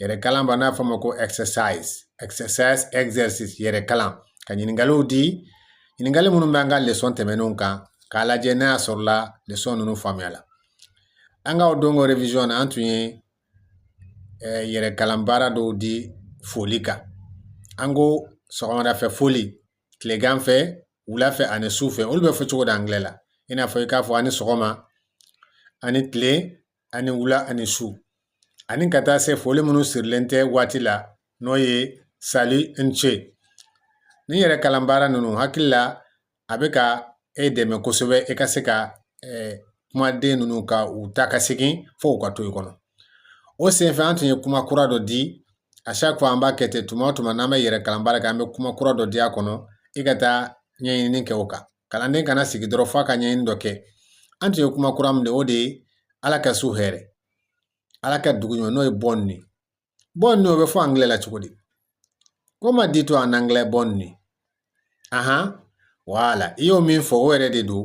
yɛrɛ kalan baara n'a fɔ ma ko exercise exercise exercice yɛrɛ kalan ka ɲininkaliw di ɲininkali minnu bɛ an ka lesɔn tɛmɛnenw kan k'a lajɛ n'a y'a sɔrɔla lesɔn ninnu faamuyala an ka o donc revision na an tun ye eh, yɛrɛ kalan baara dɔw di foli kan an ko sɔgɔmada fɛ foli tilegan fɛ wula fɛ ani su fɛ olu bɛ fɔ cogo di angilɛ la i n'a fɔ i k'a fɔ a ni sɔgɔma a ni tile a ni wula a ni su ani ka taa se foli minnu sirilen tɛ waati la n'o ye salut n ce ni yɛrɛ kalan baara ninnu hakili la a bɛ ka e dɛmɛ kosɛbɛ e ka se ka eh, kumaden ninnu ka u ta ka segin fo u ka to i kɔnɔ o senfɛ an tun ye kuma kura dɔ di a chaque fois an b'a kɛ ten tuma o tuma n'an bɛ yɛrɛ kalan baara kɛ an bɛ kuma kura dɔ di a kɔnɔ i ka taa ɲɛɲini kɛ o kan kalanden kana sigi dɔrɔn f'a ka ɲɛɲini dɔ kɛ an tun ye kuma kura min di o de ye ala ka su hɛrɛ ala ka dugu ɲuman n'o ye bonne nuit bonne nuit o bɛ fɔ angilɛ la cogo di comment dit-on en anglais bonne nuit ahan voilà i y'o min fɔ o yɛrɛ de don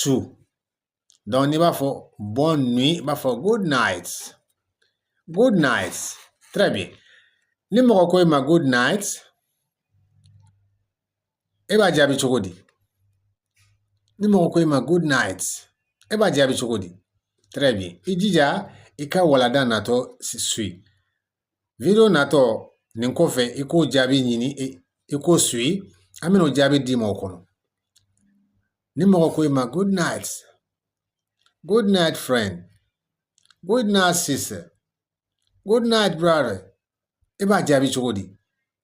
su donc n'i b'a fɔ bonne nuit i b'a fɔ good night good night très bien ni mɔgɔ ko i ma good night e b'a jaabi cogo di ni mɔgɔ ko i ma good night e b'a jaabi cogo di très bien i jija i ka walanda natɔ suyi Video natɔ nin kɔfɛ i k'o jaabi ɲini i k'o suyi an bɛna o jaabi d'i ma o kɔnɔ ni mɔgɔ ko i ma good night good night friend good night sister good night brother i b'a jaabi cogo di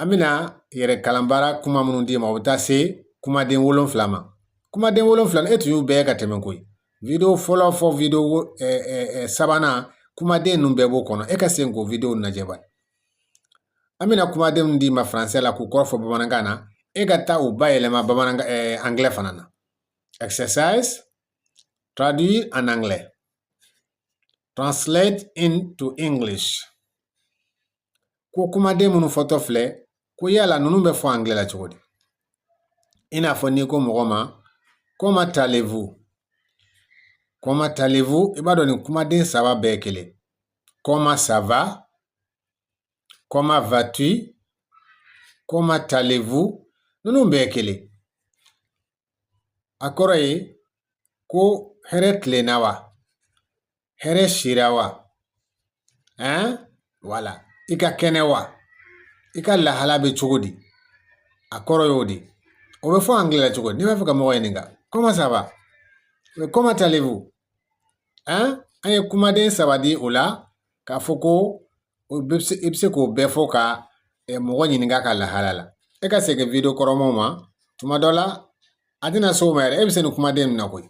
an bɛna yɛrɛ kalan baara kuma minnu d'i ma o bɛ taa se kumaden wolonfila ma kumaden wolonfila e tun y'u bɛɛ ka tɛmɛ koyi video fɔlɔ fo video sabanan kumaden ninnu bɛɛ b'o kɔnɔ e ka segin k'o video lajɛ bani an bɛna kumaden minnu d'i ma faransɛ la k'u kɔrɔ fɔ bamanankan na e ka taa u bayɛlɛma bamanankan angilɛ fana na exercise traduit en anglais translate into english ko kumaden minnu fɔtɔ filɛ ko yala ninnu bɛ fɔ angilɛ la cogo di i n'a fɔ n'i ko mɔgɔ ma comment allez-vous comment allez-vous i b'a dɔn nin kumaden saba bɛɛ kelen comment ça va comment vas-tu comment allez-vous ninnu bɛɛ kelen a kɔrɔ ye ko hɛrɛ tilenna wa hɛrɛ sira wa ɛn voilà i ka kɛnɛ wa i ka lahala bɛ cogo di a kɔrɔ y'o de o bɛ fɔ angilɛ la cogo di n'i b'a fɛ ka mɔgɔ ɲininka comment ça va comment allez-vous ɛn an ye kumaden saba di o la k'a fɔ ko i bɛ se k'o bɛɛ fɔ ka mɔgɔ ɲininka ka lahala la e ka segin video kɔrɔmaw ma tuma dɔ la a tɛna s'o ma yɛrɛ e bɛ se nin kumaden min na koyi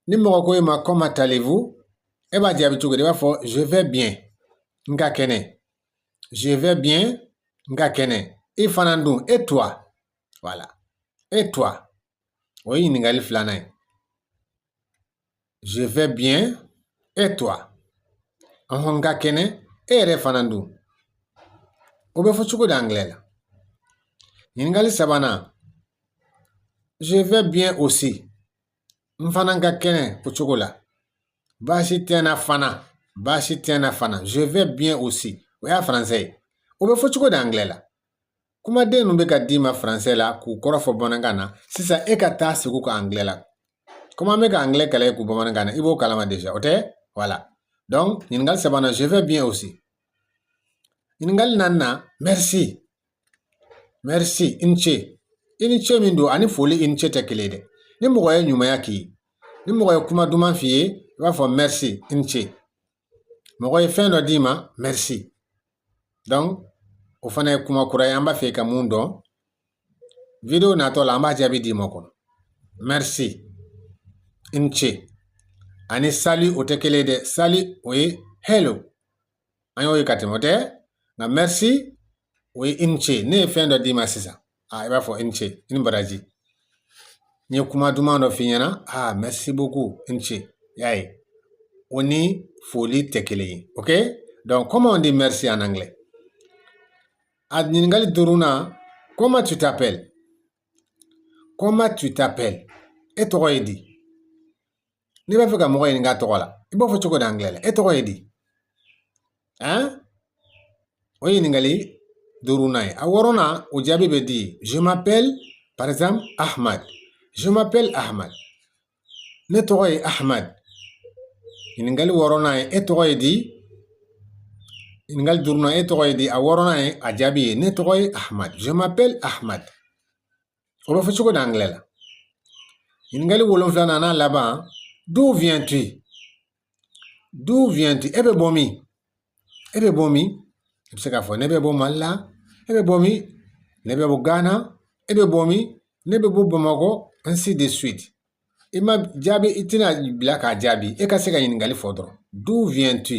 ni mɔgɔ ko i ma comment allez-vous e b'a jaabi cogo di i b'a fɔ je vais bien n ka kɛnɛ je vais bien n ka kɛnɛ i fana dun et toi voilà et toi o ye ɲininkali filanan ye je vais bien et toi ɔhɔn n ka kɛnɛ e yɛrɛ fana dun o bɛ fɔ cogo di angilɛ la ɲininkali sabanan je vais bien aussi n fana ka kɛnɛ o cogo la baasi tɛ n na fana baasi tɛ n na fana je vais bien aussi o y'a faransɛ ye o bɛ fɔ cogo di angilɛ la kumaden ninnu bɛ ka d'i ma faransɛ la k'u kɔrɔ fɔ bamanankan na sisan e ka taa se k'u kɛ angilɛ la komi an bɛ ka angilɛ kalan de kɛ bamanankan na i b'o kalama déjà o tɛ voilà donc ɲininkali sabanan je vais bien aussi ɲininkali naaninan merci Merci i ni ce i ni ce min don ani foli i ni ce tɛ kelen dɛ ni mɔgɔ ye ɲumanya k'i ye ni mɔgɔ ye kuma duman f'i ye i b'a fɔ merci i ni ce mɔgɔ ye fɛn dɔ d'i ma merci donc o fana ye kuma kura ye an b'a fɛ ka mun dɔn video natɔ la an b'a jaabi d'i ma kɔnɔ merci i ni ce ani salut o tɛ kelen dɛ salut o ye hello an y'o ye ka tɛmɛ o tɛ nka merci o ye i ni ce ne ye fɛn dɔ d'i ma sisan a i b'a fɔ i ni ce i ni baraji n ye kuma duman dɔ f'i ɲɛna aa merci beaucoup i ni ce y'a ye o ni foli tɛ kelen ye ok donc comment on dit merci en anglais a ɲininkali duurunan comment tu t'appelles comment tu t'appelles e tɔgɔ ye di n'i b'a fɛ ka mɔgɔ ɲininka tɔgɔ la i b'a fɔ cogo di angilɛ la e tɔgɔ ye di ɛn o ye ɲininkali duurunan ye a wɔɔrɔnan o jaabi bɛ di je m'appelle par exemple ahmad je m'appelle ahmad ne tɔgɔ ye ahmad ɲininkali wɔɔrɔnan ye e tɔgɔ ye di ɲininkali duurunan e tɔgɔ ye di a wɔɔrɔnan ye a jaabi ye ne tɔgɔ ye ahmad je m'appelle ahmad O bɛ fɔ cogo di angilɛ la ɲininkali wolonfilanan a laban d'où viens-tu d'où viens-tu e bɛ bɔ min e bɛ bɔ min i bɛ se k'a fɔ ne bɛ bɔ mali la e bɛ bɔ min ne bɛ bɔ gana e bɛ bɔ min ne bɛ bɔ bamakɔ ainsi de suite i ma jaabi i tɛna bila k'a jaabi e ka se ka ɲininkali fɔ dɔrɔn d'où viens-tu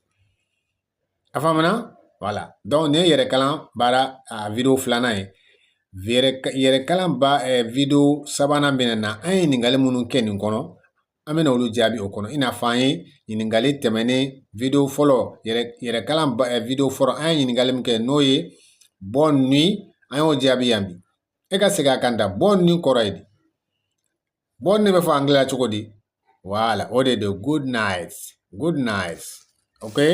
A faamuna voilà donc nin ye yɛrɛkalan baara video filanan ye yɛrɛkalan ba video sabanan bɛna na an ye ɲininkali minnu kɛ nin kɔnɔ an bɛna olu jaabi o kɔnɔ i n'a fɔ an ye ɲininkali tɛmɛnen video fɔlɔ yɛrɛkalan video fɔlɔ an ye ɲininkali min kɛ n'o ye bonne nuit an y'o jaabi yan bi e ka se k'a kan da bonne nuit kɔrɔ ye di bonne nuit bɛ fɔ angilɛ la cogo di voilà o de don good night good night okay